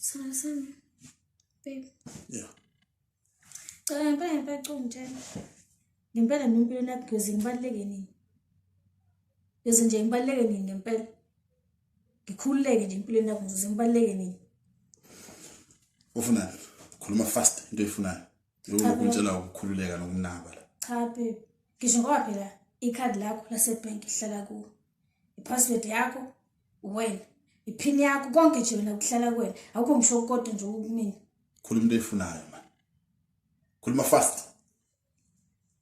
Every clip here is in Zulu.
Sana sana. Babe. Yeah. Cela ngempela ngempela cela ungitshela. Ngempela mina empilweni yakho Gyozi ngibaluleke nini? Gyozi nje ngibaluleke nini ngempela? Ngikhululeke nje empilweni yakho Gyozi ngibaluleke nini? Ufunani? Khuluma fast into oyifunayo. Lokhu ngitshela ukukhululeka nokunaba la. Cha babe. Ngisho ngoba phela ikhadi lakho lasebank ihlala kuwe. Ipassword yakho wena. Ipin yakho konke nje wena kuhlala kuwena. Awukho ngisho kodwa nje ukumina. Khuluma into eyifunayo man. Khuluma fast.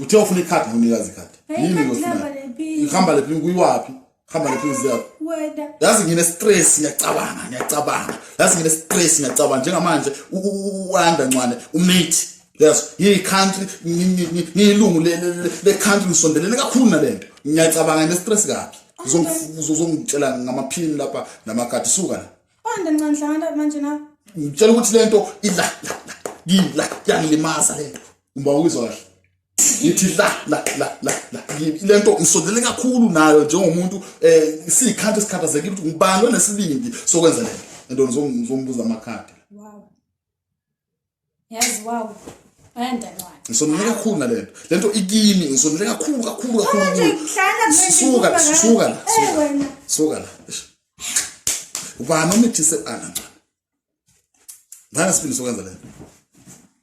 uthe ufuna ikhadi ngikunikazi ikhadi yini ngosina ihamba lephi kuyiwaphi hamba lephi uziyaphi yazi ngine stress ngiyacabanga ngiyacabanga yazi ngine stress ngiyacabanga njengamanje uanda ncwane umate yes yi country ngiyilungu le le country ngisondelene kakhulu nalento ngiyacabanga ngine stress kabi uzongitshela ngamaphini lapha namakhadi suka la Banda ncanhlanda manje na. Ngitshela ukuthi lento ila ngila yangilimaza lento. Uma uyizwa kahle. Ngithi la la la la la lento ngisondele kakhulu nayo njengomuntu eh sikhanti sikhathazekile ukuthi ngubani onesibindi sokwenza lento. Lento ngizombuza amakhadi. Wow. yazi wawu ngisonele kakhulu nale nto le nto ikimi ngisonele kakhulu kakhulu kakhulusuka la suka la suka la ubani omithise ana ngane sifini sokwenza le nto